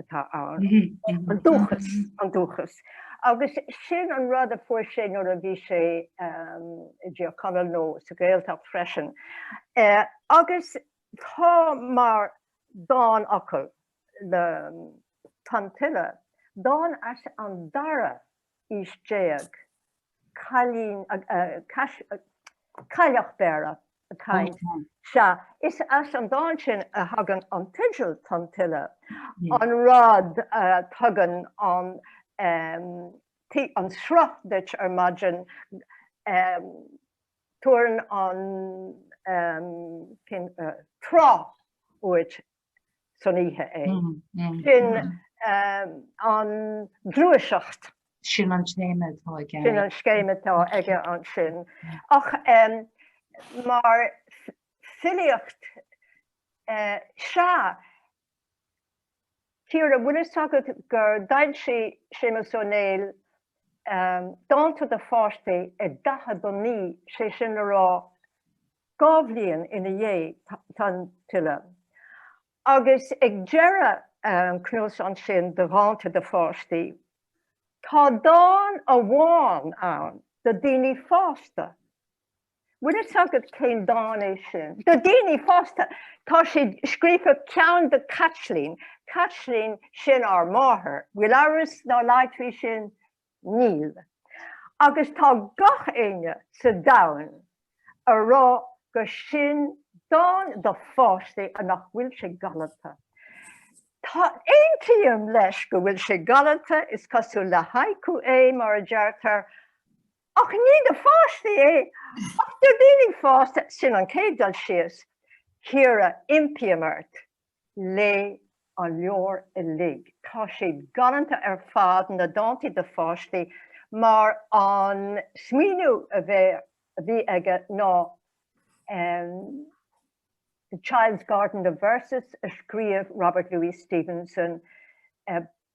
atá ann, an dúchas, an dúchas. Agus sin an rud a fuair sé nuair a bhí sé i dTír Chonaill nó sa Gaeltacht freisin. Agus tá mar dánfhocal le Tonn Tuile, dán as an dara aois déag, cailín, Cailleach Bhéarra ag caint. Sea, is as an dán sin a thagann an teideal Tonn Tuile, an rud a thugann an sruth duit ar maidin, tabharann an trá uait san oíche é. Sin an ghluaiseacht. Sin an scéim atá aige. Sin an scéim atá aige ansin. Ach mar filíocht, sea, Ciara, bhfuil a fhios agat gur d'fhoilsigh Séamus Ó Néill dánta do pháistí i 49, sé sin le rá, Dhá bhliain ina dhiaidh, Tonn Tuile agus ag deireadh an chnuasaigh sin de dhánta do pháistí, tá dán amháin ann do daoine fásta. Bhfuil fhios agat cén dán é sin? Do daoine fásta! Tá sé scríofa i, ceann do Chaitlín. Caitlín, sin ár máthair. Bhfuil amhras ná laghad faoi sin? Níl. Agus tá gach éinne sa domhan a rá go sin dán do pháistí a nach bhfuil sé galanta. Tá, aontaím leis go bhfuil sé galanta, is cosúil le haiku é, mar a deirtear, ach ní do pháistí é, ach do daoine fásta, sin an chéad dul síos. Ciara, impím ort. Léigh an leabhar uilig, tá siad galanta ar fad, na dántaí do pháistí, mar an smaoineamh a bhí aige ná The Child's Garden of Verses a scríobh Robert Louis Stevenson,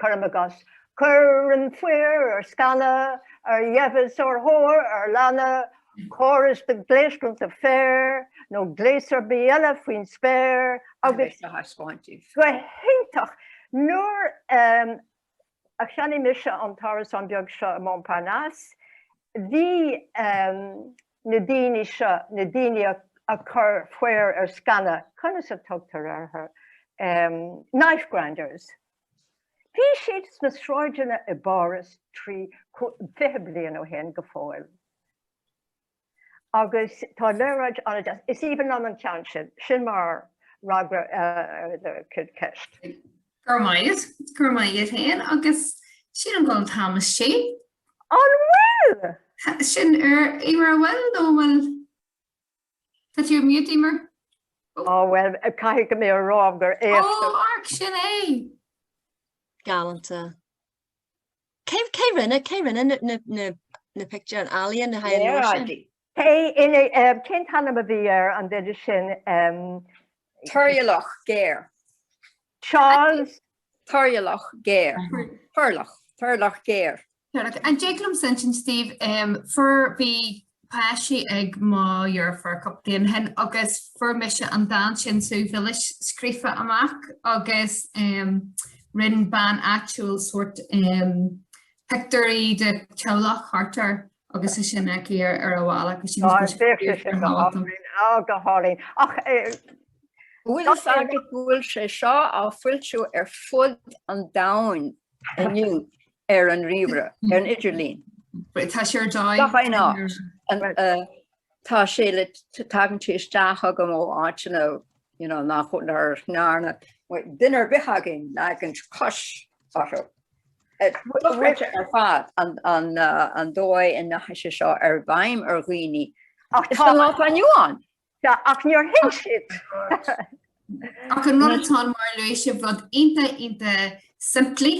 cuirim i gcás. Cuireann faobhar ar sceana, ar dheimheas, ar thóir, ar lanna, córas de ghléas bainte féir nó gléas ar bith eile faoin spéir, agus go hiontach nuair a cheannaigh mise an t-árasán beag seo i Montparnasse, bhí na daoine seo, na daoine a chuir faobhar ar sceana, conas a tugtar orthu, knife grinders, Bhí siad sna sráideanna i bPáras trí fiche bliain ó shin go fóill agus tá léaráid ann de. Is aoibhinn liom an ceann sin. Sin mar fhreagra ar do cheist. Go raibh maith agat. Go raibh maith agat fhéin agus sin an gol tam is sé. An bhfuil? Sin ar, Emer, an bhfuil nó an bhfuil? Tá tú ar mute, Emer. Oh. Oh bhuel, caithfidh go mbeadh a rá gur éasca. Oh, amharc, sin é! Galanta. Cé, cé rinne, cé rinne na, na, na, na pictiúir, an ealaíon, na haghaidh mór sin? Léaráidí. Cé ina, eh, cén t-ainm a bhí ar an duine sin, eh, Toirealach géar. Charles. Toirealach géar. Toirealach. Toirealach géar. Toirealach. An dtig liom insint, Steve, fuair, bhí páistí ag mo dheirfiúr cúpla bliain ó shin agus fuair mise an dán sin Subh Mhilis scríofa amach agus rinne bean áitiúil sórt pictiúirí de theaghlach thart air. agus sé sin aici ar ar an bhalla go sin Tá sé sin go hálainn á go hálainn ach Bhfuil a fhios agat go bhfuil sé seo á foilsiú ar fud an domhain inniu ar an ríomhaire, ar an idirlíon? Tá sé ar deighilt. Gach aon áit. Tá sé le tagann sé isteach chugam ó áiteanna nach ndearna duine ar bith againn leagan cois Otto. Bhuaite ar fad an dóigh a ndeachaigh sé seo i bhfeidhm ar dhaoine. Ach tá an áit aniu ann. Tá, ach níor thuig siad. Ach an rud atá ann, mar a luaigh sibh, rud iontach, iontach simplí,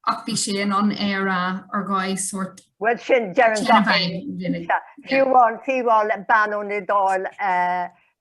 ach bhí sé in ann é a rá ar dhóigh sórt. Bhuel sin, deireann gach éinne. Fiú amháin, fiú amháin le bean ón Iodáil,